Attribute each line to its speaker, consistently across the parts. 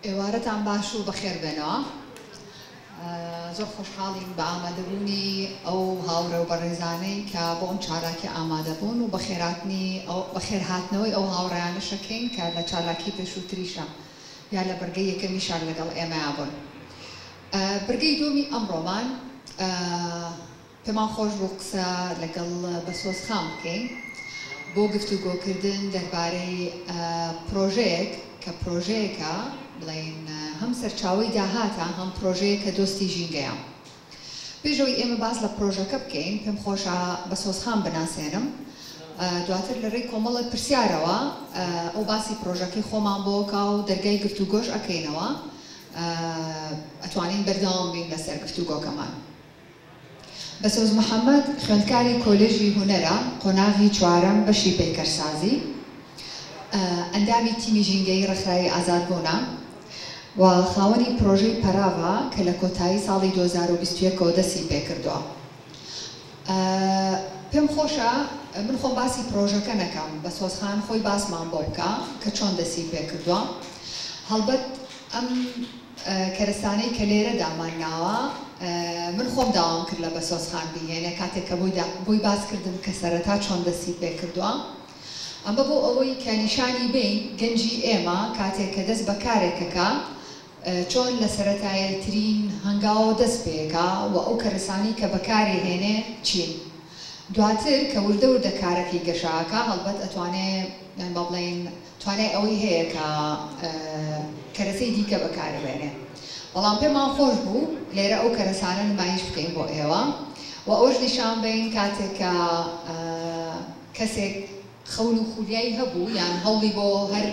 Speaker 1: ئێوارەتان باش و بەخێر بێنەوە. زۆر خۆشحاڵین بە ئامادەبوونی ئەو هاوڕێ و بەڕێزانەین کە بۆ ئەم چالاکیە ئامادەبوون و بەخێرهاتنەوەی ئەو هاوڕێیانەشەکەین کە لە چالاکی پێشووتریشا یا لە بڕگەی یەکەمیشا لەگەڵ ئێمەیا بوون. بڕگەی دووەمی ئەمڕۆمان پێمان خۆش بوو قسە لەگەڵ بەسۆز خان بکەین بۆ گفتوگۆکردن دەربارەی پرۆژەیەک کە پرۆژەیەکە بڵێین هەم سەرچاوەی داهاتە هەم پرۆژەیە کە دۆستی ژینگەیە پێشەوەی ئێمە باس لە پرۆژەکە بکەین پێم خۆشە بەسۆز خان بناسێنم دواتر لە ڕێی کۆمەڵی پرسیارەوە ئەو باسی پرۆژەکەی خۆمان بۆکە و دەرگای گفتوگۆش ئەکەینەوە ئەتوانین بەردەوام بین لەسەر گفتوگۆکەمان. بەسۆز محەمەد، خوێندکاری کۆلێژی هونەرە، قۆناغی چوارەم بەشی پەیکەرسازی، ئەندامی تیمی ژینگەیی ڕێکخراوی ئازادبوونە و خاوەنی پرۆژەی پەراڤە کە لە کۆتایی ساڵی دوو هەزار و بیست و یەک ەوە دەستی پێکردووە. پێم خۆشە من خۆم باسی پرۆژەکە نەکەم بەسۆز خان خۆی باسمان بۆ بکا کە چۆن دەستی پێ کردوە هەڵبەت ئەم کەرستانەی کە لێرە دامان ناوە من خۆم داوام کرد لە بەسۆز خان بیهێنێ کاتێک کە بۆی بۆی باس کردم کە سەرەتا چۆن دەستی پێ کردوە ئەمە بۆ ئەوەی کە نیشانی بین گەنجی ئێمە کاتێک کە دەست بە کارێکەکە چۆن لە سەرەتایەترین هەنگاوەوە دەست پێکا و ئەو کەرەسانەی کە بەکارێ هێنێ چین؟ دواتر کە وردە وردە کارەکەی گەشاکا هەڵبەت ئەتوانێ یان با بڵێین توانای ئەوەی هەیە کە کەرەسەی دیکە بەکارێ بێنێ بەڵام پێمان خۆش بوو لێرە ئەو کەرەسانە نمایش بکەین بۆ ئێوە و ئەوەش نیشان بین کاتێک کە کەسێک خەون و خولیای هەبوو یان هەوڵی بۆ هەر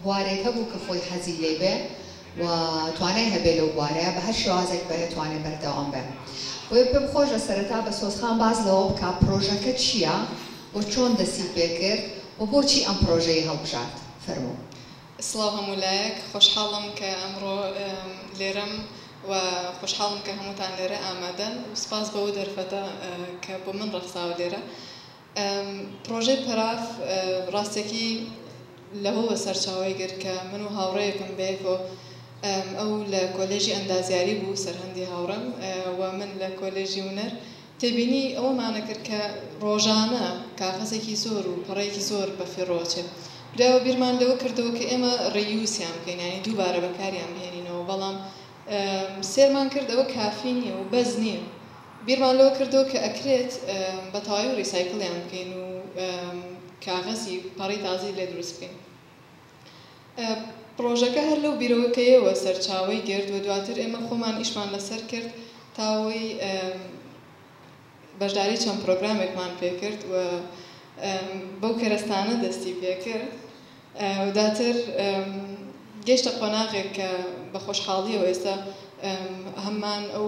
Speaker 1: بوارێک هەبوو کە خۆی حەزی لێی بێ و توانای هەبێ لەو بوارەیا بە هەر شێوازێک بێ توانێ بەردەوام بێ بۆیە پێم خۆشە سەرەتا بە سۆزخان باس لەوە بکا پرۆژەکە چییە و چۆن دەستی پێ کرد و بۆچی ئەم پرۆژەی هەڵبژارد فەرموو. سڵاو هەموو
Speaker 2: لایەک خۆشحاڵم کە ئەمڕۆ لێرەم و خۆشحاڵم کە هەمووتان لێرە ئامادەن و سپاس بۆ ئەو دەرفەتە کە بۆ من ڕەخساوە لێرە. پڕۆژەی پەراف ڕاستەکی لەوەوە سەرچاوەی گرت کە من و هاوڕێیەکم بەیەکەوە ئەو لە کۆلێژی ئەندازیاری بوو سەرهەندی هاوڕێم و من لە کۆلێژی هونەر تێبینی ئەوەمانە کرد کە ڕۆژانە کاغەزێکی زۆر و پەڕەیەکی زۆر بە فیڕۆ ئەچێت براوە بیرمان لەوە کردەوە کە ئێمە ڕیوسیان بکەین یانی دووبارە بەکاریان بهێنینەوە بەڵام سێرمان کرد ئەوە کافی نیە و بەس نیە بیرمان لەوە کردەوە کە ئەکرێت بە تەواوی ڕیسایکڵیان بکەین و کاغەزی پەڕەی تازەی لێ دروست بکەین پڕۆژەکە هەر لەو بیرەوەکەیەوە سەرچاوەی گرت و دواتر ئێمە خۆمان ئیشمان لەسەر کرد تا ئەوەی بەشداری چەند پرۆگرامێکمان پێکرد و بەو کەرەستانە دەستی پێکرد و دواتر گەیشتە قۆناغێک کە بە خۆشحاڵیەوە ئێستا هەمان ئەو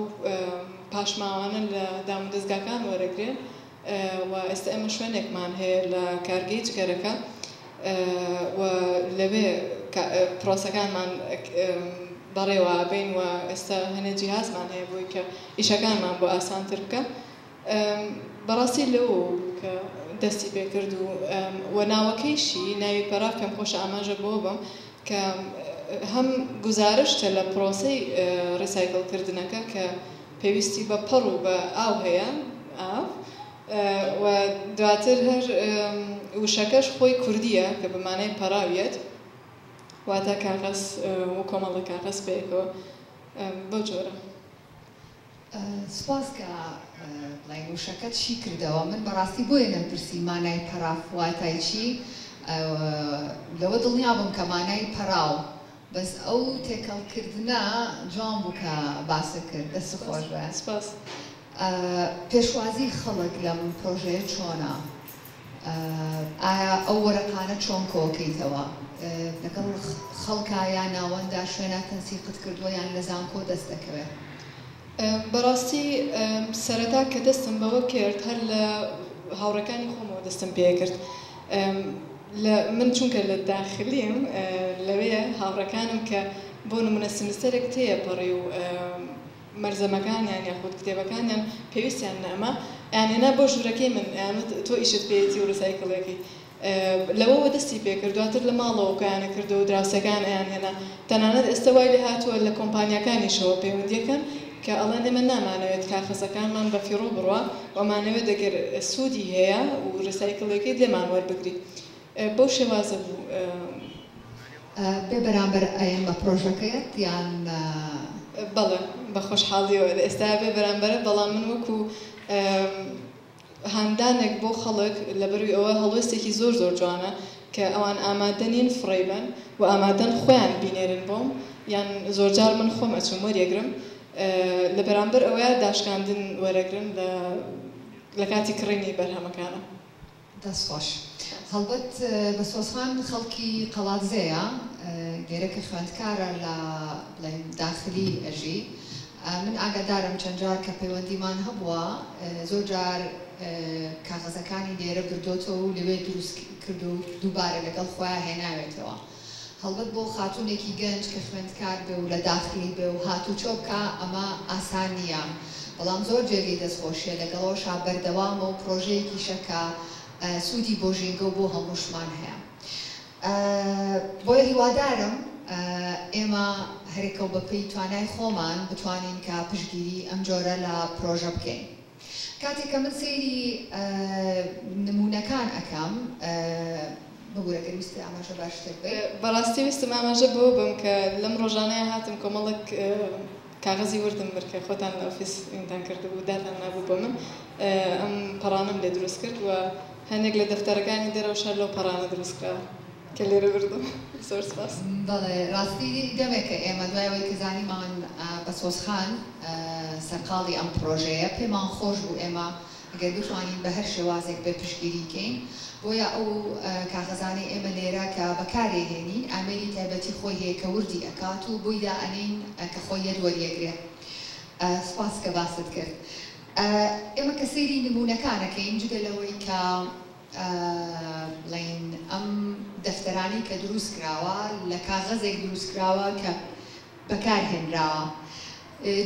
Speaker 2: پاشماوانە لە دام و دەزگاکان وەرەگرێ و ئێستا ئێمە شوێنێکمان هەیە لە کارگەی جگەرەکە و لەوێ پرۆسەکانمان بەڕێوابەین و ئێستا هەنێ جیهازمان هەیە بۆی کە ئیشەکانمان بۆ ئاسانتر بکە بەڕاستی لەوە بوو کە دەستی پێ کرد و وە ناوەکەیشی ناوی پەراغ کەم خۆشە ئاماژە بەوە بەم کە هەم گوزارشتە لە پرۆسەی ڕیسایکل کردنەکە کە پێویستی بە پەڕ و بە ئاو هەیە ئاو وە دواتر هەر وشەکەش خۆی کوردیە کە بە مانای پەراو یەت واتە کاغەز و کۆمەڵە کاغەز پێکەوە بەو جۆرە. سوپاس
Speaker 1: کە بڵین وشەکەت شی کردەوە من بەڕاستی بۆیە نەمپرسی مانای پەراف واتای چی لەوە دڵنیابووم کە مانای پەراو بەس ئەو تێکەڵ کردنە جوان بوو کە باست کرد دەست خۆش بێ سوپاس. پێشوازی خەڵک لەم پرۆژەیە چۆنە؟ ئایا ئەو وەرەقانە چۆن کۆکەیتەوە؟ لەگەڵ خەڵکا یا ناوەندا شوێنا تەنسیقت کردووە یان لە زانکۆ دەست دەکەوێ؟
Speaker 2: بەڕاستی سەرەتا کە دەستم بەوە کرد هەر لە هاوڕێکانی خۆمەوە دەستم پێ کرد لە من چونکە لە داخلیم لەوێ هاوڕێکانم کە بۆ نمونە سمستەرێک تێ پەڕی و مەلزەمەکانیان یاخود کتێبەکانیان پێویستیان نە ئەمە یان هێنا بۆ ژورەکەی من ئەیان وت تۆ ئیشت پێیەتی و ڕیسایکڵیەکەی لەوەوە دەستی پێکرد دواتر لە ماڵەوە کۆیانە کردو و دراوسێکەیان ئەیان هێنا تەنانەت ئێستە وای لێهاتووە لە کۆمپانیاکانیشەوە پەیوەندیەکەن کە ئەڵێن ئێمە نامانەوێت کاخەزەکانمان بە فیڕۆ بڕوا و ئەمانەوێت ئەگەر سوودی هەیە و ڕیسایکڵیەکەیت لێمان وەربگری بەو شێوازە بوو.
Speaker 1: بێ بەرامبەر ئەیەن بە پرۆژەکەیەت یان.
Speaker 2: بەڵێ بە خۆشحاڵیەوە لە ئێستایا بێ بەرامبەرە بەڵام من وەکو هاندانێک بۆ خەڵک لەبەروی ئەوە هەڵوێستێکی زۆر زۆر جوانە کە ئەوان ئامادە نین فڕێی بەن و ئامادەن خۆیان بینێرن بۆم یان زۆرجار من خۆم ئەچم وەریەگرم لە بەرامبەر ئەوەیا داشکاندن وەرەگرن لە لە کاتی کڕینی بەرهەمەکانم. دەست خۆش.
Speaker 1: هەڵبەت بەسۆزخان خەڵکی قەڵادزێیە لێرە کە خوێندکارە لە بڵێین داخلی ئەژی من ئاگادارم چەند جار کە پەیوەندیمان هەبووە زۆر جار کاغەزەکانی لێرە بردۆتەوە و لەوێ دروست کردووە و دووبارە لەگەڵ خۆیان هێناوێتەوە. هەڵبەت بۆ خاتوونێکی گەنج کە خوێندکار بێ و لە داخلی بێ و هاتووچۆ بکا ئەمە ئاسان نییە، بەڵام زۆر جێگەی دەستخۆشییە، لەگەڵەوەشا بەردەوامە و پڕۆژەیەکیشە کە سوودی بۆ ژینگە و بۆ هەمووشمان هەیە. بۆیە هیوادارم ئێمە هەرێکەو بەپێی توانای خۆمان بتوانین کە پشتگیریی ئەمجۆرە لە پڕۆژە بکەین. کاتێک کە من سەیری نموونەکان ئەکەم ببورە گەر ویستت ئاماژە بار شتێک بەی. بەڕاستی ویستم
Speaker 2: ئاماژە بەوە بەم کە لەم ڕۆژانەیا هاتم کۆمەڵک کاغەزی وردم برد کە خۆتان لە ئۆفیس ئیمدان کردبوو داتان نابوو بۆ من ئەم پەڕانەم لێ دروست کرد و هەندێک لە دەفتەرەکانی دەرەوەش هەر لەو پەڕانە دروست کراوە. کە لێرە بردم زۆر سپاس. بەڵێ ڕاستی
Speaker 1: دەمێکە ئێمە دوای ئەوەی کە زانیمان بەسۆز خان سەرقاڵی ئەم پڕۆژەیە پێمان خۆش بوو ئێمە گەر بتوانین بە هەر شێوازێک بێت پشتگیری کەین بۆیە ئەو کاغەزانەی ئێمە لێرە کە بەکارێ هێنین ئامێری تایبەتی خۆی هەیە کە وردی ئەکات و بۆی دا ئەنێین کە خۆی یەت وەریەگرێ سپاس کە باست کرد ئێمە کە سەیری نموونەکان ئەکەین جگە لەوەی کە بڵێین ئەم دەفتەرانەی کە دروست کراوە لە کاغەزێک دروست کراوە کە بەکار هێنراوە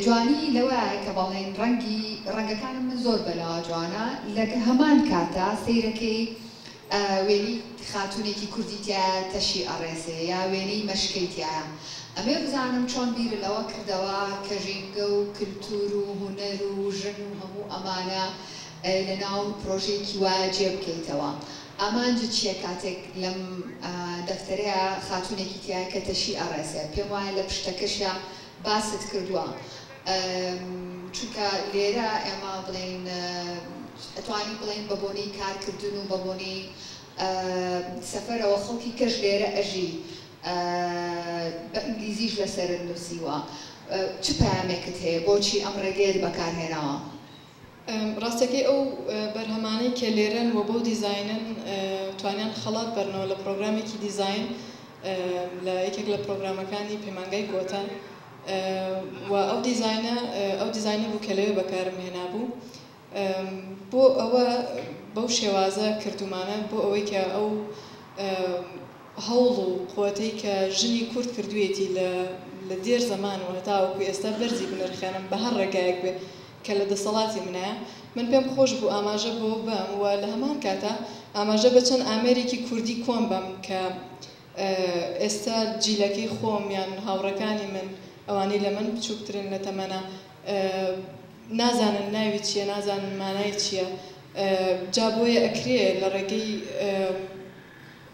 Speaker 1: جوانی لەوەیە کە بەڵێن ڕەنگی ڕەنگەکانی من زۆر بەلاوە جوانە لە هەمان کاتا سەیرەکەی وێنی خاتونێکی کوردی تایە تەشی ئەڕێسێ یا وێنەی مەشکەی تایە ئەمێ بزانم چۆن بیر لەوە کردەوە کە ژینگە و کللتور و هونەر و ژن و هەموو ئەمانە لەناو پرۆژەیەکی وا جێ بکەیتەوە ئامانجت چیە کاتێک لەم دەفتەرەیا خاتونێکی تیایە کە تەشی ئەڕێسێ پێم وایە لە پشتەکەشیا باست کردوە چونکە لێرە ئێمە بڵێین ئەتوانین بڵێین بە بۆنەی کار کردن و بە بۆنەی سەفەرەوە خەڵکی کەش لێرە ئەژی بە ئینگلیزیش لەسەرت نوسیوە چ پەیامێکت هەیە بۆچی ئەم ڕێگەیەت بەکار هێناوە؟
Speaker 2: ڕاستەکەی ئەو بەرهەمانەی کە لێرەن و بەو دیزاینەن توانیان خەڵات بەرنەوە لە پرۆگرامێکی دیزاین لە یەکێک لە پرۆگرامەکانی پەیمانگای کۆتە و ئەو دیزاینە ئەو دیزاینە بوو کە لەوێ بەکارم هێنابوو بۆ ئەوە بەو شێوازە کردومانە بۆ ئەوەی کە ئەو هەوڵ و قوتەی کە ژنی کورد کردوێتی لە لە دێر زەمان و هەتاوەکو ئێستا بەرزی بنرخێنم بە هەر ڕێگایەک بێ کە لە دەسەڵاتی منایە، من پێم خۆش بوو ئاماژە بەوە بەم و لە هەمان کاتا ئاماژە بە چەند ئامێرێکی کوردی کۆن بەم کە ئێستا جیلەکەی خۆم یان هاوڕێکانی من ئەوانەی لە من بچووکترن لە تەمەنا نازانن ناوی چییە نازانن مانای چییە جا بۆیە ئەکرێ لە ڕێگەی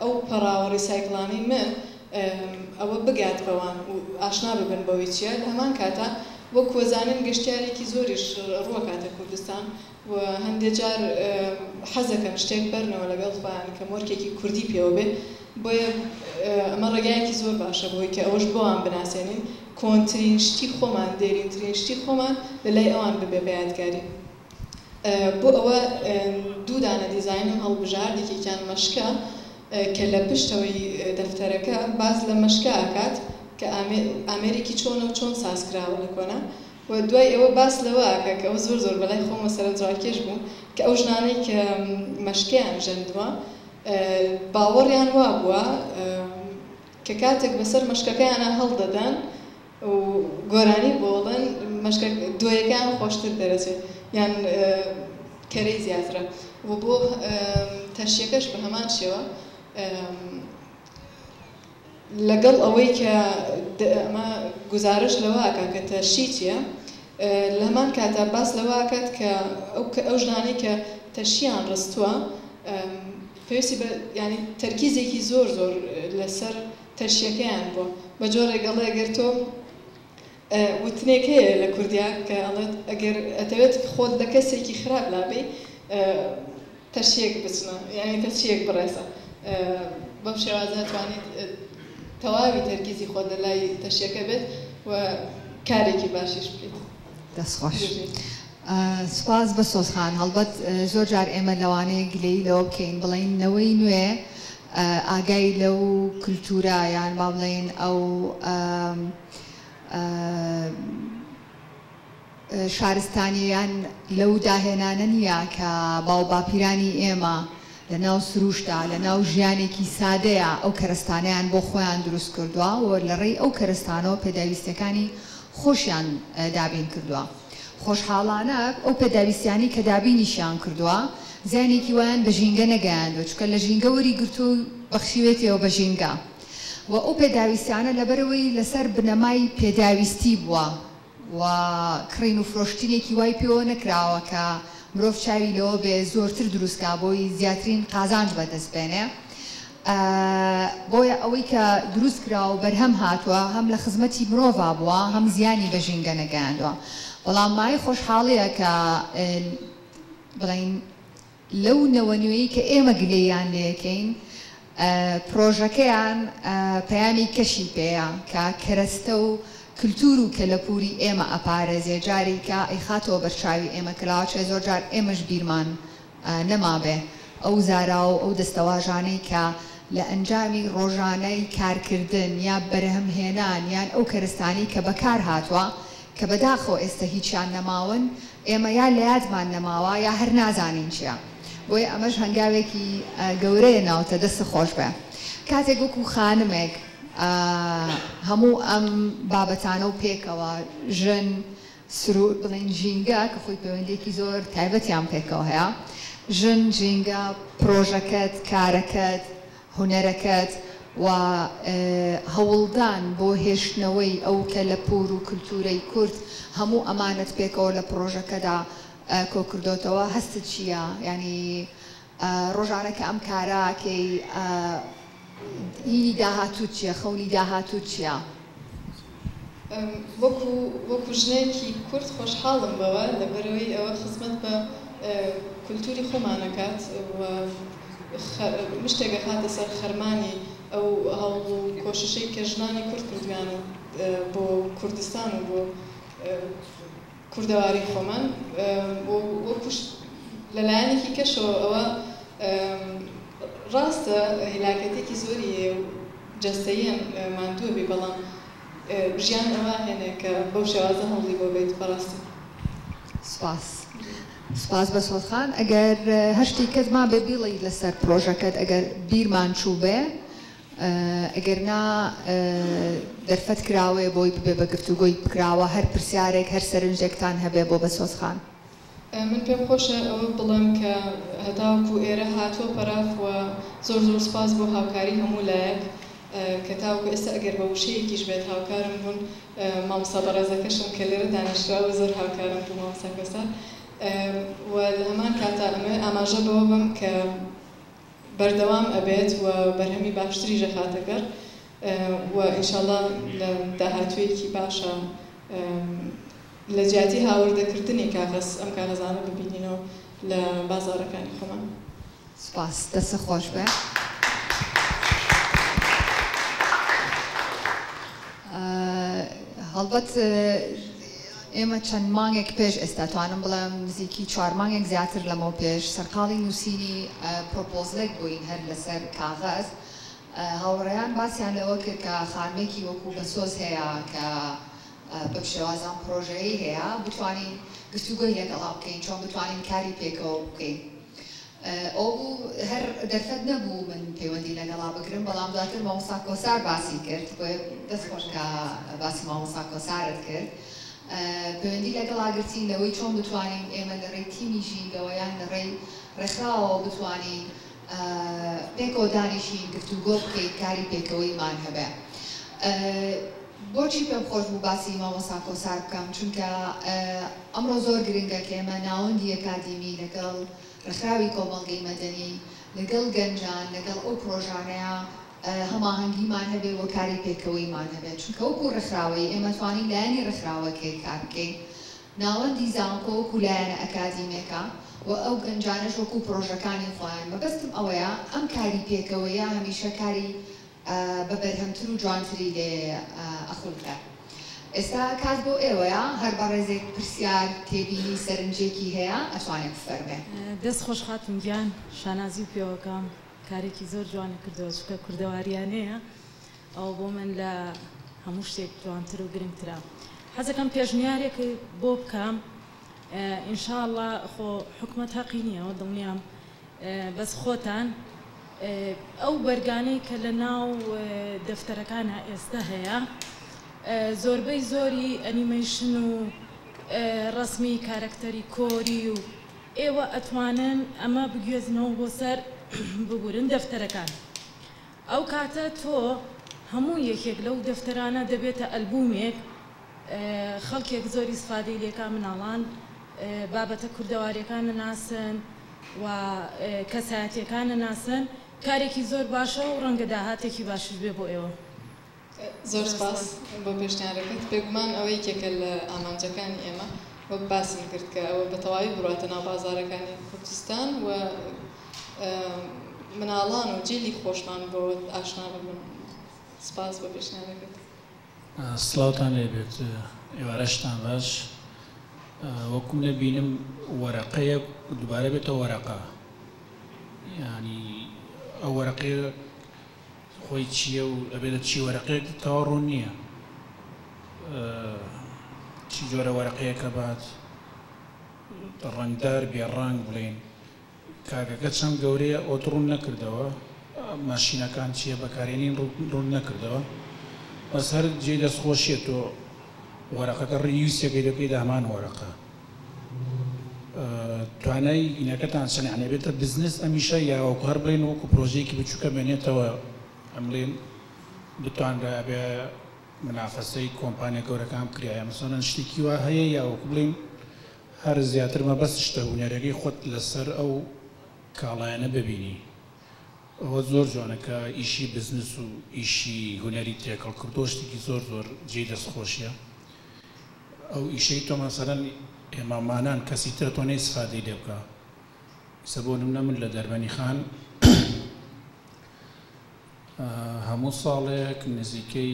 Speaker 2: ئەو پەڕاوە ڕیسایکڵانەی من ئەوە بگات بەوان و ئاشنا ببن بەوەی چیە لە هەمان کاتا وەک وەزانن گەشتیارێکی زۆریش ڕوەکاتە کوردستان و هەندێ جار حەزەکەن شتێک بەرنەوە لەگەڵ خۆیان کە مۆرکێکی کوردی پێوە بێ بۆیە ئەمە ڕێگایەکی زۆر باشە بۆی کە ئەوەش بۆان بناسێنین کۆنترین شتی خۆمان دێرینترین شتی خۆمان لە لای ئەوان ببێ بە یادگاری. بۆ ئەوە دوو دانە دیزاین و هەڵبژارد یەکێکیان مەشکە کە لە پشتەوەی دەفتەرەکە باس لە مەشکە ئەکات کە ئامێرێکی چۆنە و چۆن ساز کراوە لە کۆنە و دوای ئەوە باس لەوە ئەکات کە ئەوە زۆر زۆر بەلای خۆمەوە سەرەنجڕاکێش بووم کە ئەو ژنانەی کە مەشکەیان ژەندووە باوەڕیان وابووە کە کاتێک بەسەر مەشکەکەیانا هەڵدەدەن و گۆرانی بۆڵن مەشکە دۆیەکەیان خۆشتر دەرەچێت یان کەرەی زیاترە و بۆ تەشیەکەش بە هەمان شێوە لەگەڵ ئەوەی کە ئەمە گزارش لەوە ئەکات کە تەشی چییە لە هەمان کاتا باس لەوە ئەکات کە ئەو کە ئەو ژنانەی کە تەشیان ڕستووە پێویستی بە ینی تەرکیزێکی زۆر زۆر لەسەر تەشیەکەیان بوە بە جۆرێک ئەڵێ گەر تۆ وتنێک هەیە لە کوردیا کە ئەڵێت ئەگەر ئەتەوێت خۆت لە کەسێکی خراپ لابەی تەشیەک بچنە یانی تەشیەک بڕێسە بەم شێوازە توانیت تەواوی تەرکیزی خۆت لە لای تەشیەکە بێت و کارێکی باشیش بکەیت. دەست خۆش.
Speaker 1: سوپاس بەسۆز خان. هەڵبەت زۆر جار ئێمە لەوانەیە گلەیی لەوە بکەین بڵێین نەوەی نوێ ئاگای لەو کلتورە یان با بڵێین ئەو شارستانیە یان لەو داهێنانە نیە کە باوباپیرانی ئێمە لەناو سرووشتە، لەناو ژیانێکی سادەیە، ئەو کەرەستانەیان بۆ خۆیان دروست کردووە و لەڕێی ئەو کەرەستانەوە پێداویستییەکانی خۆشیان دابین کردووە. خۆشحاڵانە ئەو پێداویستییانەی کە دابینیشیان کردووە، زیانێکی وایان بە ژینگە نەگەیاندووە، چونکە لە ژینگە وەری گرتووە و بەخشیوێتیەوە بە ژینگە و ئەو پێداویستییانە لەبەرئەوەی لەسەر بنەمای پێداویستی بووە، و کڕین و فرۆشتنێکی وای پێوە نەکراوە کە مرۆڤ چاوی لەوە بێ زۆرتر دروست کا بۆی زیاترین قازانج بەدەست بێنێ بۆیە ئەوەی کە دروست کرا و بەرهەم هاتووە هەم لە خزمەتی مرۆڤا بووە هەم زیانی بە ژینگە نەگەیاندوە بەڵام مای خۆشحاڵیە کە بڵین لەو نەوە نوێی کە ئێمە گلەییان لێکەین پرۆژەکەیان پەیامی کەشی پێیە کە کەرەستە و کلتور و کەلەپوری ئێمە ئەپارێزێ جاریکە ئەیخاتەوە بەرچاوی ئێمە کە لاچێ زۆر جار ئێمەش بیرمان نەمابێ ئەو زاراو و ئەو دەستەواژانەی کە لە ئەنجامی رۆژانەی کارکردن یا بەرهم هێنان یان ئەو کەرستانەی کە بەکار هاتوە کە بەداخەوە ئێستە هیچیان نەماون ئێمە یا لە یادمان نەماوە یا هەر نازانین چیە بۆیە ئەمەش هەنگاوێکی گەورەیە ناوتە دەستت خۆشبێ کاتێک وەکو خانمێک هەموو ئەم بابەتانە و پێکەوە ژن سرور بڵین ژینگە کە خۆی پەیوەندیەکی زۆر تایبەتیان پێکەوە هەیە ژن ژینگە پرۆژەکەت کارەکەت هونەرەکەت و هەوڵدان بۆ هێشتنەوەی ئەو کەلەپوور و کلتوورەی کورد، هەموو ئەمانەت پێکەوە لە پڕۆژەکەدا کۆکردۆتەوە، هەستت چییە؟ یانی ڕۆژانە کە ئەم کارە ئەکەی هیی داهاتووت چییە؟ خەونی داهاتووت چییە؟ وەکو
Speaker 2: وەکو ژنێکی کورد خۆشحاڵم بەوە لەبەرەوەی ئەوە خزمەت بە کولتوری خۆمانەکات و مشتێک ئەخاتە سەر خەرمانی ئەو هەوڵ و کۆششەی کە ژنانی کورد کردویانە بۆ کوردستان و بۆ کوردەواری خۆمان و وەکوش لە لایەنێکی کەشەوە ئەوە ڕاستە هیلاکەتێکی زۆری هەیە و جەستەییەن ماندووە بێ بەڵام ژیان ئەوە هێنێ کە بەو شێوازە هەوڵی بۆ بێت بەڕاستی. سپاس
Speaker 1: سپاس بەسۆد خان ئەگەر هەر شتیکت مابێ بیڵی لەسەر پرۆژەکەت ئەگەر بیرمان چووبێ ئەگەرنا دەرفەت کراوەیە بۆی ببێ بە گفتوگۆی کراوە هەر پرسیارێک هەر سەرنجێکتان هەبێ بۆ بەسۆز خان. من پێم
Speaker 2: خۆشە ئەوە بڵێم کە هەتاوەکو ئێرە هاتووە پەراف و زۆر زۆر سوپاس بۆ هاوکاری هەموو لایەک کە تاوەکو ئێستا ئەگەر بە وشەیەکیش بێت هاوکارم بوون مامۆستا بەڕێزەکەشم کە لێرە دانیشتراوە زۆر هاوکارم بوو مامۆستا کۆسە و لە هەمان کاتا ئەمەوێ ئاماژە بەوە بەم کە بەردەوام ئەبێت و بەرهەمی باشتریش ئەخاتە گەڕ و ان شاء اللە لە داهاتوویەکی باشا لە جیاتی هاوردە کردنی کاغەز ئەم کاغەزانە ببینینەوە لە بازاڕەکانی خۆمان. سوپاس
Speaker 1: دەستت خۆش بێ. هەڵبەت. ئێمە چەند مانگێک پێش ئێستا، توانم بڵێم نزیکی چوار مانگێک زیاتر لەمەو پێش، سەرقاڵی نووسینی پرۆپۆزلێک بووین هەر لەسەر کاغەز. هاوڕێیان باسیان لەوە کرد کە خانمێکی وەکوو بەسۆز هەیە کە بەم شێوازە ئەم پرۆژەیەی هەیە، بتوانین گفتوگۆی لەگەڵا بکەین، چۆن بتوانین کاری پێکەوە بکەین. ئەو هەر دەرفەت نەبوو من پەیوەندی لەگەڵا بگرم بەڵام دواتر مامۆستا کۆسار باسی کرد بۆیە دەست خۆش کە باسی مامۆستا کۆسارت کرد پەیوەندی لەگەڵا گرتین لەوەی چۆن بتوانین ئێمە لە ڕێی تیمی ژینگەوە یان لە ڕێی ڕێکخراوەوە بتوانین پێکەوە دانیشین گفتوگۆ بکەین کاری پێکەوەیمان هەبێ بۆچی پێم خۆش بوو باسی مامۆستا کۆسار بکەم چونکە ئەمڕۆ زۆر گرنگە کە ئێمە ناوەندی ئەکادیمی لەگەڵ ڕێکخراوی کۆمەڵگەی مەدەنی لەگەڵ گەنجان لەگەڵ ئەو پڕۆژانەیا هەماهەنگیمان هەبێ و کاری پێکەوەیمان هەبێ چونکە وەکو ڕێکخراوەیی ئێمە توانین لایەنی ڕێکخراوەکەی کار بکەین ناوەندی زانکۆ وەکو لایەنە ئەکادیمێکە و ئەو گەنجانەش وەکو پڕۆژەکانی خۆیان مەبەستم ئەوەیە ئەم کاری پێکەوەیە هەمیشە کاری بە بەرهەمتر و جوانتری لێ ئەخولقێ ئێستا کات بۆ ئێوەیە هەر بەڕێزێک پرسیار تێبینی سەرنجێکی هەیە ئەتوانێ بفەرمێ. دەست خۆش خاتون
Speaker 3: گیان شانازی و پێوەکەم کارێکی زۆر جوانی کردوە چونکە کوردەواریانەیە ئەوە بۆ من لە هەموو شتێک جوانتر و گرنگترە حەزەکەم پێشنیارێک بۆ بکەم ان شاءاللە خۆ حکومەت هەقی نیە ئەوە دڵنیام بەس خۆتان ئەو بەرگانەی کە لە ناو دەفتەرەکانا ئێستە هەیە زۆربەی زۆری ئەنیمەیشن و ڕەسمی کارەکتەری کۆری و ئێوە ئەتوانن ئەمە بگوێزنەوە بۆ سەر ببورن دەفتەرەکان ئەو کاتە تۆ هەموو یەکێک لەو دەفتەرانە دەبێتە ئەلبومێک خەڵکێک زۆری سفادەی لێکا مناڵان بابەتە کوردەواریەکان نناسن و کەسایەتیەکان نناسن کارێکی زۆر باشە و ڕەنگە داهاتێکی باشیش بێ بۆ ئێوە. زۆر
Speaker 2: سپاس بۆ پێشنیارەکەت. بێگومان ئەوە یەکێکە لە ئامانجەکانی ئێمە وەک باسم کرد کە ئەوە بە تەواوی بڕواتە ناو بازارەکانی کوردستان و مناڵان و جیلی خۆشمان بۆ ئاشنا ببن. سپاس بۆ پێشنیارەکەت.
Speaker 4: سڵاوتان لێ بێت ئێوارەشتان باش وەکو منە بینم وەرەقەیە دوبارە بێتە وەرەقە یانی ئەو وەرەقەیە خۆی چییە و ئەبێ لە چی وەرەقێک تەوا ڕوون نییە چی جۆرە وەرەقەیەکە بات ڕەنگدار بێ ڕەنگ بڵێن کاکەکە چەند گەورەیە ئۆت ڕون نەکردەوە ماشینەکان چیە بەکارێنین ڕون نەکردەوە بەس هەر جێی دەست خۆشیە تۆ وەرەقەکە ڕیوسەکەی دەکەی دەهەمان وەرەقە توانای ئینەکەتان چەند یانێ بێتە بزنس ئەمیشە یاوەکو هەر بڵێن وەکو پرۆژەیەکی بچووکە مێنێتەوە ئەمڵێن بتوانرابێ منافەسەی کۆمپانیا گەورەکان بکرایە مەسەڵەن شتێکی وا هەیە یاوەکو بڵێن هەر زیاتر مەبەست شتە هونەرەری خۆت لەسەر ئەو کاڵایانە ببینی ئەوە زۆر جوانە کە ئیشی بزنس و ئیشی هونەری تێکەڵ کردووە شتێکی زۆر زۆر جێی دەست خۆشیە ئەو ئیشەی تۆ مەسەلەن ئێمامانان کەسی ترە تۆ نەیسفادەی لێ بکە ئیسە بۆ نمونە من لە دەربەنی خان هەموو ساڵێک نزیکەی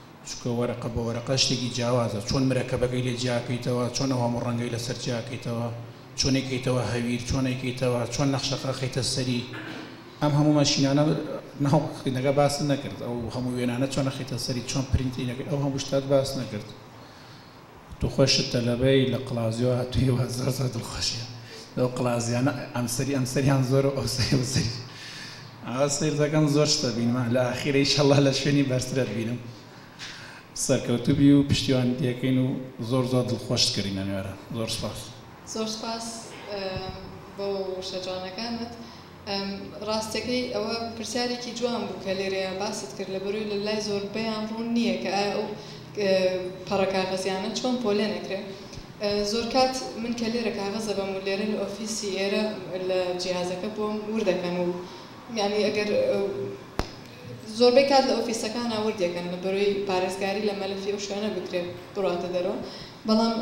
Speaker 4: چونکە وەرەقە بە وەرەقە شتێکی جیاوازە، چۆن مرەکەبەکەی لێ جیا کەیتەوە، چۆن ئەو هەموو ڕەنگەی لەسەر جیا کەیتەوە، چۆن ئەیکەیتەوە هەویر، چۆن ئەیکەیتەوە، چۆن نەخشەکە ئەخەیتە سەری، ئەم هەموو مەشینانە ناو خوێندنگە باست نەکرد، ئەو هەموو وێنانە چۆن ئەخەیتە سەری، چۆن پرینتینەکەی، ئەو هەموو شتات باست نەکرد. تو خۆشت تەلەبەی لە قلازیۆ هاتوی وا زۆر زۆر دڵخۆشیە لەو قلازیانە ئەم سەری ئەم سەریان زۆرە و ئەو سەری ئەو سەری ئاوا سەیر دەکەم زۆر شتە بینمە لە ئاخیرە ئیشەڵا لە شوێنی بەرترەت بینم سەرکەوتوبی و پشتیوانت دەکەین و زۆر زۆر دڵخۆشت کردینە نوێرە زۆر سوپاس. زۆر سوپاس
Speaker 2: بۆ وشە جوانەکانت. ڕاستەکەی ئەوە پرسیارێکی جوان بوو کە لێرەیا باست کرد لە بەرۆی لە لای زۆربەیان ڕوون نییە کە ئایا ئەو پەڕە کاغەزیانە چۆن پۆلێن ئەکرێ زۆرکات من کە لێرە کاغەز دەبەم و لێرە لە ئۆفیسی ئێرە لە جیهازەکە بۆم وردەکەن و یانی ئەگەر زۆربەی کات لە ئۆفیسەکانا وردیەکەن لە بەرۆی پارێزگاری لە مەلەفی ئەو شوێنە بکرێت بڕاتە دەرەوە بەڵام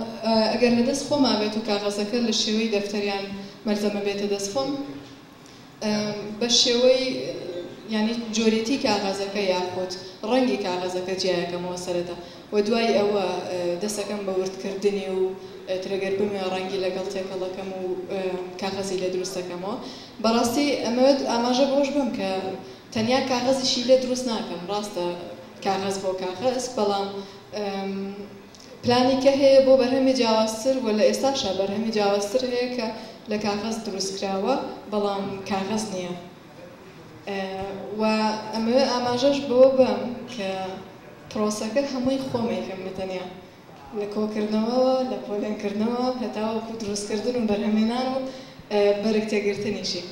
Speaker 2: ئەگەر لە دەست خۆما بێت و کاغەزەکە لە شێوەی دەفتەر یان مەلزەمە بێتە دەست خۆم بە شێوەی یانی جۆریتی کاغەزەکە یاخود ڕەنگی کاغەزەکە جیایەکەمەوە سەرەتا و دوای ئەوە دەسەکەم بە وردکردنی و ترەگەر بموێ ڕەنگی لەگەڵ تێکەڵەکەم و کاغەزی لێ دروستەکەمەوە بەڕاستی ئەمەوێت ئاماژە بەوەش بەم کە تەنیا کاغەزی شیلە دروست ناکەن ڕاستە کاغەز بۆ کاغەز بەڵام پلانی کە هەیە بۆ بەرهەمی جیاوازتر وە لە ئێستاشا بەرهەمی جیاوازتر هەیە کە لە کاغەز دروست کراوە بەڵام کاغەز نیە وە ئەمەوێت ئاماژەش بەوە بەم کە پڕۆسەکە هەمووی خۆم ئەیکەم بە تەنیا. لە کۆکردنەوەوە، لە پۆلێنکردنەوە هەتاوەکو دروستکردن و بەرهەمهێنان و بەرگ تێگرتنیشی.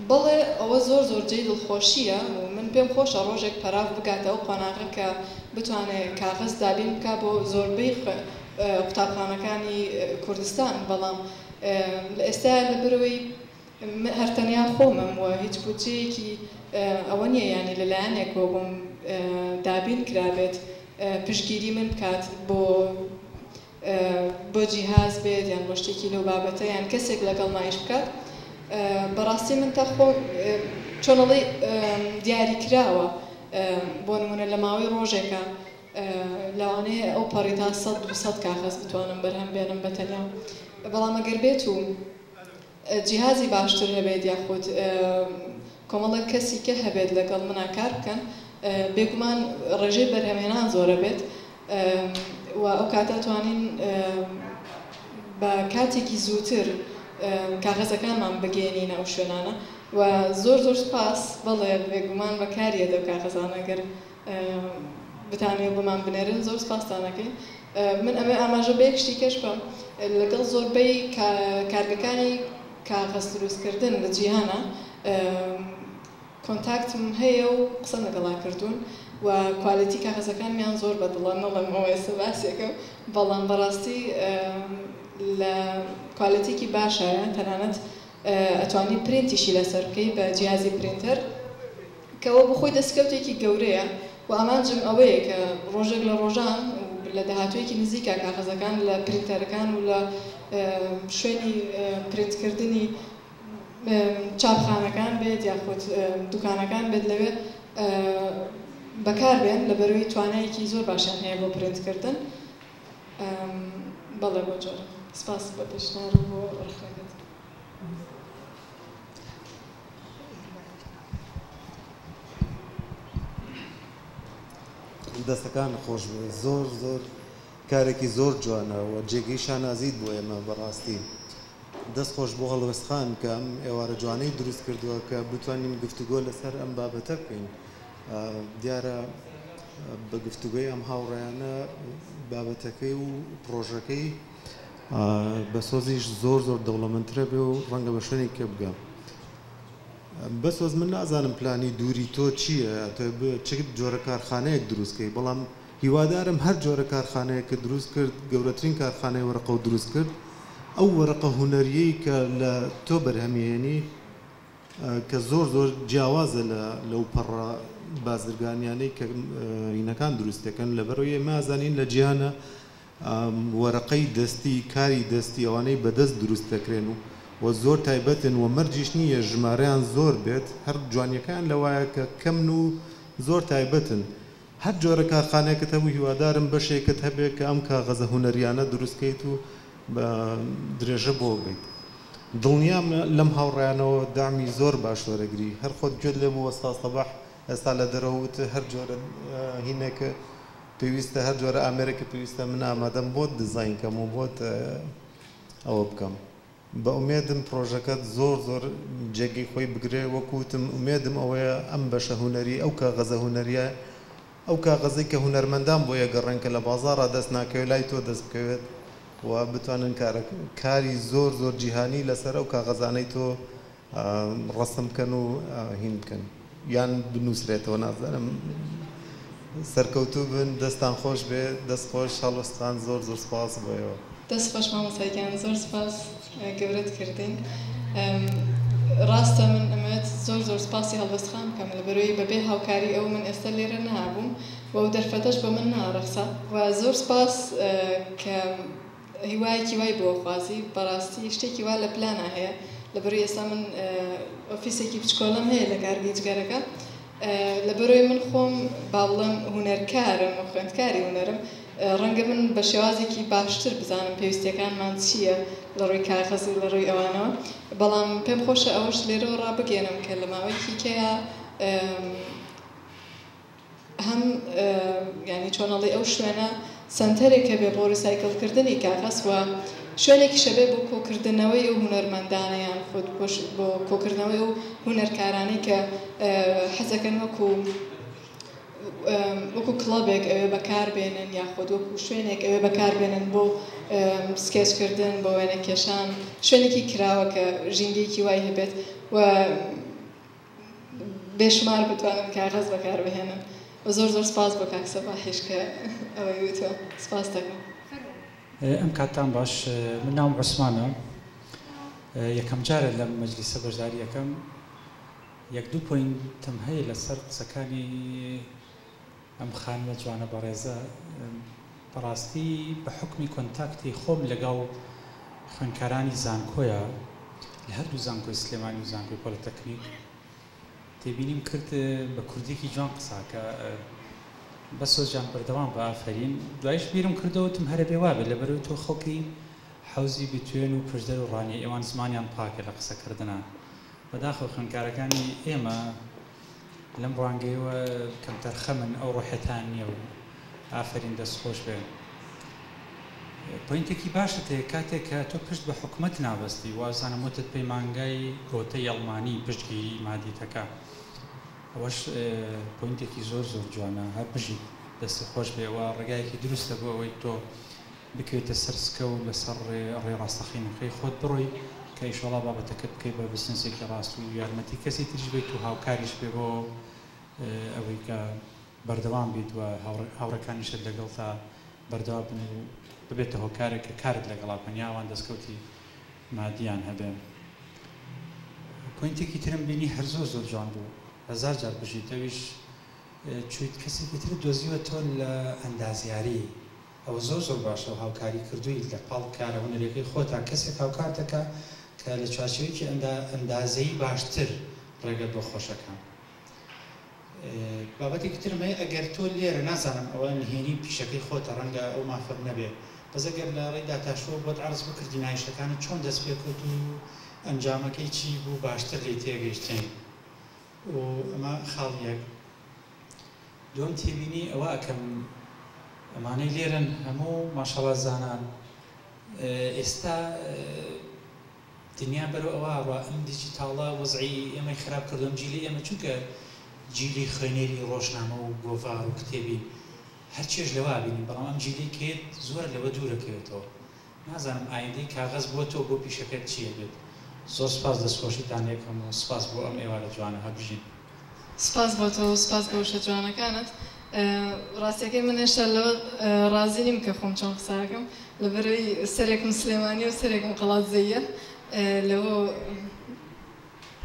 Speaker 2: بەڵێ ئەوە زۆر زۆر جێی دڵخۆشییە و من پێم خۆشە ڕۆژێک پەراف بگاتە ئەو قۆناغە کە بتوانێ کاغەز دابین بکا بۆ زۆربەی قوتابخانەکانی کوردستان، بەڵام لە ئێستایا لەبەرئەوەی من هەر تەنیا خۆمم و هیچ بودجەیەکی ئەوە نییە یانی لە لایەنێکەوە بۆم دابین کرابێت پشتگیری من بکات بۆ بۆ جیهاز بێت یان بۆ شتێکی لەو بابەتە یان کەسێک لەگەڵما ئیش بکات بەڕاستی من تا خۆم چۆن ئەڵێی دیاری کراوە بۆ نمونە لە ماوەی ڕۆژێکە لەوانەیە ئەو پەڕی تا سەد دوو سەد کاغەز بتوانم بەرهەم بێنم بە تەنیا بەڵام ئەگەر بێت و جیهازی باشتر هەبێت یاخود کۆمەڵێک کەسی کە هەبێت لەگەڵ منا کار بکەن بێگومان ڕێژەی بەرهەمهێنان زۆرە بێت و ئەو کاتە توانین بە کاتێکی زووتر کاغەزەکانمان بگەێنینە ئەو شوێنانە و زۆر زۆر سپاس بەڵێ بێگومان بەکاریە دەو کاغەزانەگەر بتانوێ بۆمان بنێرن زۆر سپاستان ئەکەین من ئەمێ ئاماژە بەیەک شتی کەش بەم لەگەڵ زۆربەی کارگەکانی کاغەز دروستکردن لە جیهانە کۆنتاکتم هەیە و قسەم لەگەڵا کردوون و کوالێتی کاغەزەکانمیان زۆر بەدڵە نەڵێم ئەوە ئێستا باسێکەم بەڵام بەڕاستی لە کوالێتیکی باشایە تەنانەت ئەتوانی پرینتیشی لەسەر بکەی بە جیهازی پرینتەر کە ئەوە بۆ خۆی دەستکەوتێکی گەورەیە و ئامانجم ئەوەیە کە ڕۆژێک لە ڕۆژان و لە داهاتوویەکی نزیکا کاغەزەکان لە پرینتەرەکان و لە شوێنی پرینتکردنی چاپخانەکان بێت یاخود دوکانەکان بێت لەوێ بەکاربێن لەبەرئەوەی توانایەکی زۆر باشیان هەیە بۆ پرینتکردن. بەڵێ بۆ جۆرە. سپاس بۆ پێشنیار و بۆ ڕەخنەکەت.
Speaker 5: دەستەکانت خۆش بێت زۆر زۆر کارێکی زۆر جوانە و جێگەی شانازیت بۆ ئێمە بەڕاستی دەست خۆش بۆ هەڵوێستخان کە ئەم ئێوارە جوانەی دروست کردووە کە بتوانین گفتوگۆ لەسەر ئەم بابەتە بکەین دیارە بە گفتوگۆی ئەم هاوڕێیانە بابەتەکەی و پڕۆژەکەی بە سۆزیش زۆر زۆر دەوڵەمەندترە بێ و ڕەنگە بە شوێنی کە بگەم بە سۆز من نازانم پلانی دووری تۆ چییە تۆ چ جۆرە کارخانەیەک دروستکەی بەڵام هیوادارم هەر جۆرە کارخانەیە کە دروست کرد گەورەترین کارخانەی وەرەقە و دروست کرد ئەو وەرەقە هوەریەی کە لە تۆ بەرهەمیێنی کە زۆر زۆر جیاوازە لە لەو پەڕە بازرگانیانەی کە رینەکان دروست دەکەن لەبەرەوەی ئێمە ئازانین لە جیهانە وەرەقەی دەستی کاری دەستی ئەوانەی بەدەست دروست دەکرێن و و زۆر تایبەتن و مەرجیش نییە ژمارەیان زۆر بێت هەر جوانیەکەیان لەوایە کە کەمن و زۆر تایبەتن هەر جۆرە کارخانەیەکت هەبوو هیوادارم بەشێکت هەبێت کە ئەم کاغەزە هونەریانە دروست کەیت و بە درێژە بۆ بیت دڵنیام لەم هاوڕێیانەوە دەعمی زۆر باش وەرەگری هەر خۆت گوێت لێ بوو ئوستاز سەباح ئێستا لە دەرەوە وت هەر جۆرە هینێک پێویستە هەر جۆرە ئامێرێکت پێویستە من ئامادەم بۆت دیزاین کەم و بۆت ئەوە بکەم. بە ئومێدم پڕۆژەکەت زۆر زۆر جێگەی خۆی بگرێ وەک وتم ئومێدم ئەوەیە ئەم بەشە هونەری ئەو کاغەزە هونەرییە ئەو کاغەزەی کە هونەرمەندان بۆی ئەگەڕێن کە لە بازاڕا دەست ناکەوێ لای تۆ دەست بکەوێت و بتوانن کارەک کاری زۆر زۆر جیهانی لەسەر ئەو کاغەزانەی تۆ ڕەسم بکەن و هین بکەن یان بنوسرێتەوە نازانم سەرکەوتوو بن دەستان خۆش بێ. دەست خۆش هەڵۆستخان زۆر زۆر سوپاس بۆ ئێوە. دەست خۆش
Speaker 2: مامۆستا گیان زۆر سوپاس گەورەت کردین ڕاستە من ئەمەوێت زۆر زۆر سوپاسی هەڵۆست خان بکەم لەبەرەوەی بەبێ هاوکاری ئەو من ئێستا لێرە نەهابووم و ئەو دەرفەتەش بۆ من ناڕەخسا و زۆر سوپاس کە هیوایەکی وای بۆ خوازی بەڕاستی شتێکی وا لە پلانا هەیە لەبەروی ئێستا من ئۆفیسێکی بچکۆلەم هەیە لە کارگەی جگەرەکە لەبەروی من خۆم باڵم هونەرکارم و خوێندکاری هونەرم ڕەنگە من بە شێوازێکی باشتر بزانم پێویستیەکانمان چییە لە ڕووی کاغەزی لە ڕووی ئەوانەوە بەڵام پێم خۆشە ئەوەش لێرەوە ڕابگەێنم کە لە ماوەیەکی کەیا هەم یانی چۆن ئەڵێی ئەو شوێنە سەنتەرێک هەبێ بۆ ڕیسایکل کردنی کاغەز و شوێنێکیش هەبێ بۆ کۆکردنەوەی ئەو هونەرمەندانە یان خود بۆ کۆکردنەوەی ئەو هونەرکارانەی کە حەز دەکەن وەکوو وەکوو کڵەبێک ئەوێ بەکار بێنن یا خود وەکوو شوێنێک ئەوێ بەکار بێنن بۆ سکێچ کردن بۆ وێنەکێشان شوێنێکی کراوە کە ژینگەیەکی وای هەبێت و بێ شومار بتوانن کاغەز بەکار بهێنن و زۆر زۆر سپاس بۆ کاک سەباحیش کە ئەوەی وتوە سپاس دەکەم. ئەم
Speaker 6: کاتتان باش من ناوم عوسمانە یەکەم جارە لەم مەجلیسە بەشداری ئەکەم یەک دوو پۆینتم هەیە لەسەر قسەکانی، ئەم خانمە جوانە بەڕێزە بەڕاستی بە حوکمی کۆنتاکتی خۆم لەگەڵ خوێندکارانی زانکۆیە لە هەردوو زانکۆی سلێمانی و زانکۆی پۆلیتەکنیک تێبینیم کرد بە کوردیکی جوان قساکە بە سۆزجان بەردەوام بە ئافەرین دوایش بیرم کردەوەتم هەرە بێ وابێ لە بەرەوەی تۆ خەڵکی حەوزی بتوێن و پشدەر و ڕانیە ئێوان زمانیان پاکە لە قسەکردنا بەداخەوە خوێندکارەکانی ئێمە لەم ڕوانگەیەوە کەمتەرخەمن ئەو ڕۆحتان نیە و ئافەرین دەست خۆش بێ پۆینتێکی باشت هەیە کاتێک کە تۆ پشت بە حکومەت نابەستی وازانم وتت پەیمانگای گۆتەی ئەڵمانی پشتگیری مادی تەکا ئەوەش پۆینتێکی زۆر زۆر جوانە هەر بژیت دەستی خۆش بێ وە ڕێگایەکی دروستە بۆ ئەوەی تۆ بکەویتە سەر سکە و لەسەر ڕێ ڕێ ڕاستەقینەکەی خۆت بڕۆی کە ئیشەڵا بابەتەکەت بکەی بە بزنسێکی ڕاست و یارمەتی کەسی تریش بەیت و هاوکاریش بێ بۆ ئەوەی کە بەردەوام بیت و هاوڕێکانیشت لەگەڵتا بەردەوا بن و ببێتە هۆکارێک کە کارت لەگەڵا بکەن یا ئەوان دەستکەوتی مادیان هەبێ پۆینتێکی ترم بینی هەر زۆر زۆر جوان بوو هەزار جار بژیت ئەویش چویت کەسێکی ترت دۆزیوە تۆ لە ئەندازیاری ئەوە زۆر زۆر باشە و هاوکاری کردوویت لە پاڵ کارە هونەریەکەی خۆتا کەسێک هاوکار دەکا کە لە چوارچێوەیەکی ئەندا ئەندازەیی باشتر ڕێگەت بۆ خۆش ئەکا بابەتێکی ترم هەیە ئەگەر تۆ لێرە نازانم ئەوە نهێنی پیشەکەی خۆتە ڕەنگە ئەو مافەت نەبێ بەس ئەگەر لە ڕێی داتاشۆ بۆت عەرز بکردی نایشەکانت چۆن دەست پێ کەوت و ئەنجامەکەی چی بوو باشتر لێی تێگەیشتین و ئەمە خاڵ یەک دوای تێبینی ئەوە ئەکەم ئەمانەی لێرەن هەموو ماشەڵا زانان ئێستا دنیا بەرەو ئەوە ئەڕوا ئەم دیجیتاڵە وەزعی ئێمەی خراپ کردووە ئەم جیلی ئێمە چونکە جیلی خوێنەری ڕۆژنامە و گۆڤار و کتێبین هەرچێش لەوە بینین بەڵام ئەم جیلەی کێت زۆر لەوە دوورەکەوێتەوە نازانم ئایندەی کاغەز بۆ تۆ بۆ پیشەکەت چی ئەبێت زۆر سوپاس دەست خۆشیتان لێکەم و سوپاس بۆ ئەم ئێوارە جوانە هەربژین. سپاس بۆ
Speaker 2: تۆ و سپاس بۆ وشە جوانەکانت ڕاستیەکەی من هێشتا لەوە ڕازی نیم کە خۆم چۆن قسە ئەکەم لەبەرەوەی سەرێکم سلێمانیە و سەرێکم قەڵادزەیە لەوە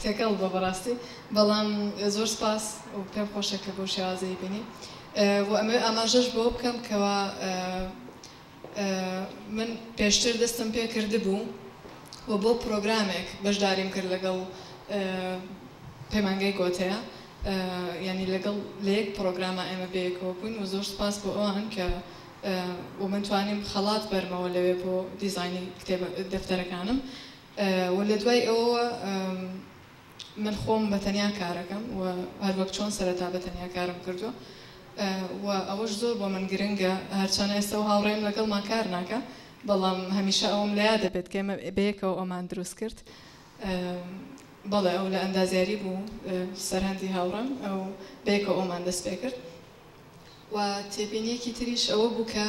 Speaker 2: تێکەڵ بوە بەڕاستی بەڵام زۆر سپاس و پێم خۆشە کە بەو شێوازەی بینی و ئەمەوێ ئاماژەش بۆ بکەم کەوا من پێشتر دەستم پێ کردبوو و بۆ پرۆگرامێک بەشداریم کرد لەگەڵ پەیمانگەی گۆتەە یانی لەگەڵ لە یەک پرۆگرامە ئێمە بەیەکەوە بووین و زۆر سپاس بۆ ئەوان کە و من توانیم خەڵات بەرمەوە لەوێ بۆ دیزانی کتێبە دەفتەرەکانم و لە دوای ئەوەوە من خۆم بە تەنیا کارەکەم و هەر وەک چۆن سەرەتا بە تەنیا کارم کردووە و ئەوەش زۆر بۆ من گرنگە هەرچەنە ئێستە و هاوڕێم لەگەڵمان کار ناکا بەڵام هەمیشە ئەوەم لە یادە بێت کە ئێمە بەیەکەوە ئەومان دروست کرد بەڵێ ئەو لە ئەندازیاری بوو سەرهەندی هاوڕێم ئەو بەیەکەوە ئەومان دەست پێ کرد و تێبینیەکی تریش ئەوە بوو کە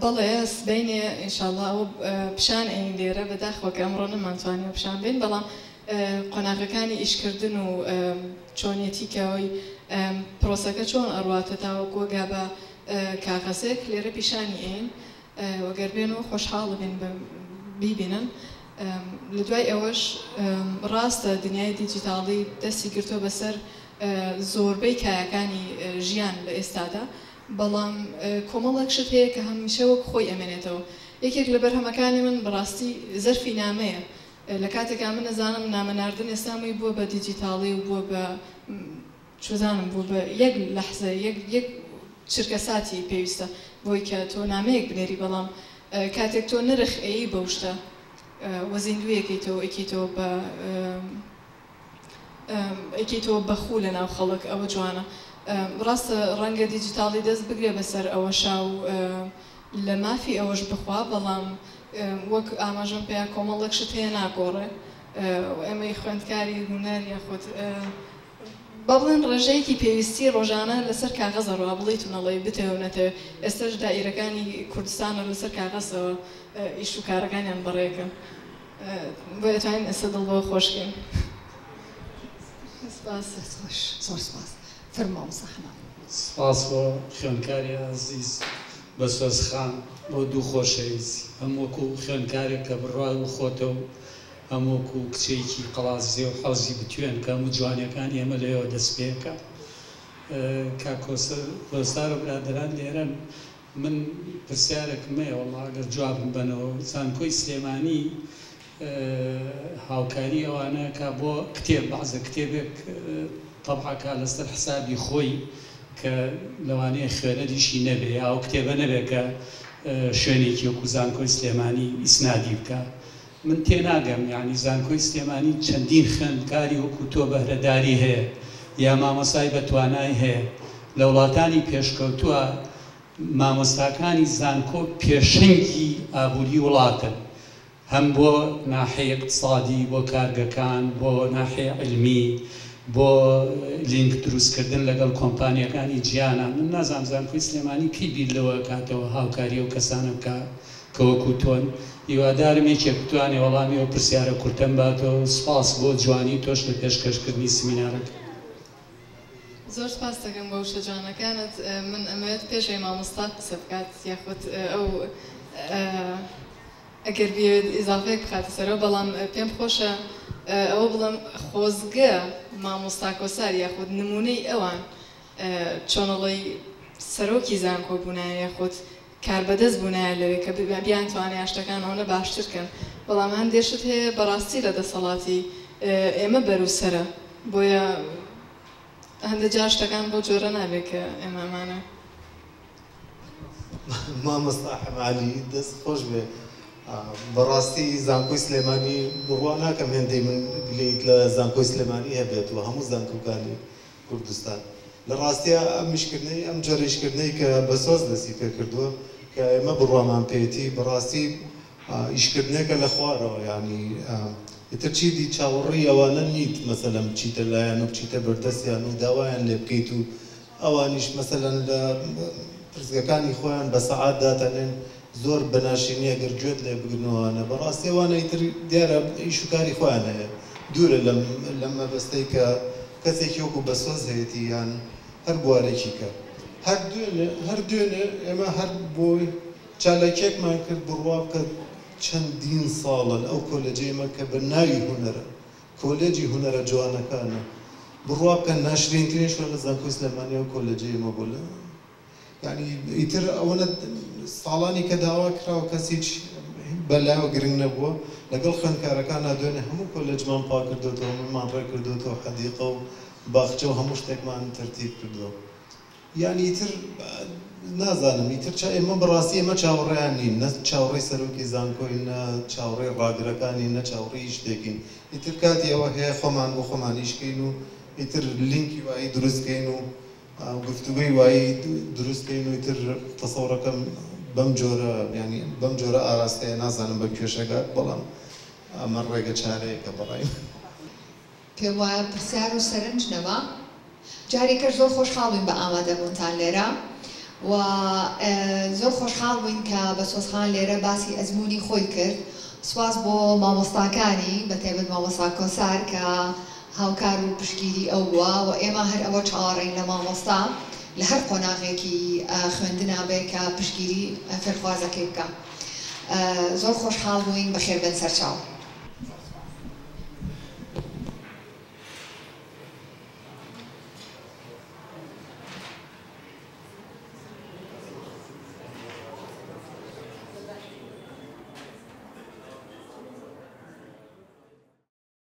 Speaker 2: بەڵێ سبەینێ ان شاء اللە ئەوە پیشان ئەیین لێرە بەداخەوە کە ئەمڕۆ نەمانتوانی ئەو پیشان بەین بەڵام قۆناغەکانی ئیش کردن و چۆنیەتی کە ئەوی پرۆسەکە چۆن ئەڕواتە تاوەکو ئەگا بە کاغەزێک لێرە پیشانی ئەیین وە گەر بێنەوە خۆشحاڵ ئەبین بە بیبینن لە دوای ئەوەش ڕاستە دنیای دیجیتاڵی دەستی گرتوە بەسەر زۆربەی کایەکانی ژیان لە ئێستادا، بەڵام کۆمەڵێک شت هەیە کە هەمیشە وەک خۆی ئەمێنێتەوە. یەکێک لە بەرهەمەکانی من بەڕاستی زەرفی نامەیە، لە کاتێکا من ئەزانم نامە ناردن ئێستا مووی بووە بە دیجیتاڵی و بووە بە چوزانم بووە بە یەک لەحزە یەک چرکەساتی پێویستە بۆی کە تۆ نامەیەک بنێری بەڵام کاتێک تۆ نرخ ئەیی بەو شتە و زیندووی ئەکەیتەوە ئەیکەیتەوە بە ئەکەیتەوە بە خوو لە ناو خەڵک ئەوە جوانە ڕاستە ڕەنگە دیجیتاڵی دەست بگرێ بەسەر ئەوەشا و لە مافی ئەوەش بخوا بەڵام وەک ئاماژەم پێیا کۆمەڵێک شت هەیە ناگۆڕێ و ئێمەی خوێندکاری هونەر یاخود با بڵێن ڕێژەیەکی پێویستی ڕۆژانە لەسەر کاغەزە ڕوا بڵیت و نەڵێی بتەوێ و نەتەوێ ئێستەش دائیرەکانی کوردستانە لەسەر کاغەزەوە ئیش و کارەکانیان بەڕێکەن بۆیە
Speaker 1: توانین ئێستا دڵ بەوە خۆش کەین سپاس. دەست خۆش زۆر سپاس فرمە
Speaker 7: مامۆستا حەمام. سپاس بۆ خوێندکاری ئازیز بەسۆز خان بۆ دوو خۆشەویستی، هەم وەکو خوێندکارێک کە بڕوات بە خۆتە و هەم وەکو کچێکی قەڵادزێ و حەوزی بتوێن کە هەموو جوانیەکانی ئێمە لەوێوە دەست پێکا. کاک کۆسرەت و هۆزدار و برادەران لێرەن. من پرسیارەکم هەیە وەڵا گەر جوابم بەنەوە زانکۆی سلێمانی هاوکاری ئەوانە کا بۆ کتێب بەعزە کتێبێک طبع کا لەسەر حسابی خۆی کە لەوانەیە خوێنەریشی نەبێ یا ئەو کتێبە نەبێ کە شوێنێکی وەکو زانکۆی سلێمانی ئیسنادی بکا من تێناگەم یانی زانکۆی سلێمانی چەندین خوێندکاری وەکو تۆ بەهرەداری هەیە یا مامۆستای بەتوانای هەیە لە وڵاتانی پێشکەوتوە مامۆستاکانی زانکۆ پێشەنگی ئابوری وڵاتن هەم بۆ ناحەی اقتصادی بۆ کارگەکان بۆ ناحەی علمی بۆ لینک دروست کردن لەگەڵ کۆمپانیاکانی جیانە من نازام زانکۆی سلێمانی کەی بیر لەوە ئەکاتەوە هاوکاری ئەو کەسانە بکا کە وەکو تۆن. هیوادارم یەکێک بتوانێ وەڵامی ئەو پرسیارە کورتەم باتەوە و سوپاس بۆ جوانی تۆش لە پێشکەش کردنی سمینارەکە.
Speaker 2: زۆر سوپاست دەکەم بۆ وشە جوانەکانت. من ئەمەوێت پێشەوەی مامۆستا قسە بکات یاخود ئەو ئەگەر بیەوێت ئیزافەیەک بخاتە سەرەوە بەڵام پێم خۆشە ئەوە بڵێم خۆزگە مامۆستا کۆسار یاخود نموونەی ئەوان چۆنەڵی سەرۆکی زانکۆ بوونایە یاخود کاربەدەست بونایە لەوێ کە بیانتوانیا شتەکان ئەونە باشتر کەن بەڵام هەندێ شت هەیە بەڕاستی لە دەسەڵاتی ئێمە بەرو سەرە بۆیە هەندێ جار شتەکان بەو جۆرە نابێ کە ئێمە ئەمانە
Speaker 5: مامۆستا حەمالی دەست خۆش بێ بەڕاستی زانکۆی سلێمانی بڕوا ناکەم هێندەی من گلەیت لە زانکۆی سلێمانی هەبێت و هەموو زانکۆکانی کوردستان. لە ڕاستیا ئەم ئیشکردنەی ئەم جۆرە ئیشکردنەی کە بە سۆز دەستی پێ کردووە کە ئێمە بڕوامان پێیەتی بە ڕاستی ئیشکردنێکە لە خوارەوە یانی ئیتر چیدی چاوەڕیی ئەوانە نیت مەسەلەن بچیتە لایان و بچیتە بەردەستیان و داوایان لێ بکەیت و ئەوانیش مەسەلەن لە پرسگەکانی خۆیان بە سەعات داتەنێن زۆر بەناشیرنیە گەر گوێت لێ بگرن و ئەوانە بەڕاستی ئەوانەی تر دیارە ئیش و کاری خۆیان هەیە دوورە لەم لەم مەبەستەی کە کەسێکی وەکو بەسۆز هەیەتی یان هەر بوارێکی کە هەر دوێنێ هەر دوێنێ ئێمە هەر بۆ چالاکیەکمان کرد بڕوا بکە چەندین ساڵە ئەو کۆلێجەی مە کە بە ناوی هونەرە کۆلێجی هونەرە جوانەکانە بڕوا بکە ناشرینترین شوێنە زانکۆی سلێمانیە و کۆلێجەی ئێمە بۆ لە یانی ئیتر ئەوەنە ساڵانی کە داوا کراو کەس هیچ بە لایەوە گرنگ نەبووە لەگەڵ خوێندکارەکانا دوێنێ هەموو کۆلێجمان پاک کردۆتەوە هەموویمان ڕێک کردۆتەوە حەدیقە و باخچە و هەموو شتێکمان تەرتیب کردووە یانی ئیتر نازانم ئیتر چا ئێمە بەڕاستی ئێمە چاوەڕێیان نین نە چاوەڕێی سەرۆکی زانکۆین نە چاوەڕێی ڕاگرەکانین نە چاوەڕێی هیچ شتێکین ئیتر کاتی ئەوە هەیە خۆمان بۆ خۆمان ئیش کەین و ئیتر لینکی وایی دروست کەین و گفتوگۆی وایی دروست کەین و ئیتر تەسەورەکەم بەم جۆرە یانی بەم جۆرە ئاراستەیە نازانم بە کوێش ئەگات بەڵام ئەمە ڕێگە چارەیەکە بەڕای من.
Speaker 1: پێم وایە پرسیار و سەرنج نەما. جاری تر زۆر خۆشحاڵ بووین بە ئامادە بوونتان لێرە و زۆر خۆشحاڵ بووین کە بەسۆز خان لێرە باسی ئەزموونی خۆی کرد. سوپاس بۆ مامۆستاکانی بە تایبەت مامۆستا کۆسار کە هاوکار و پشتگیری ئەو بووە و ئێمە هەر ئەوە چاوەڕێین لە مامۆستا لە هەر قۆناغێکی خوێندنا بێ کە پشتگیری فێرخوازەکەی بکا. زۆر خۆشحاڵ بووین، بەخێربێن سەرچاو.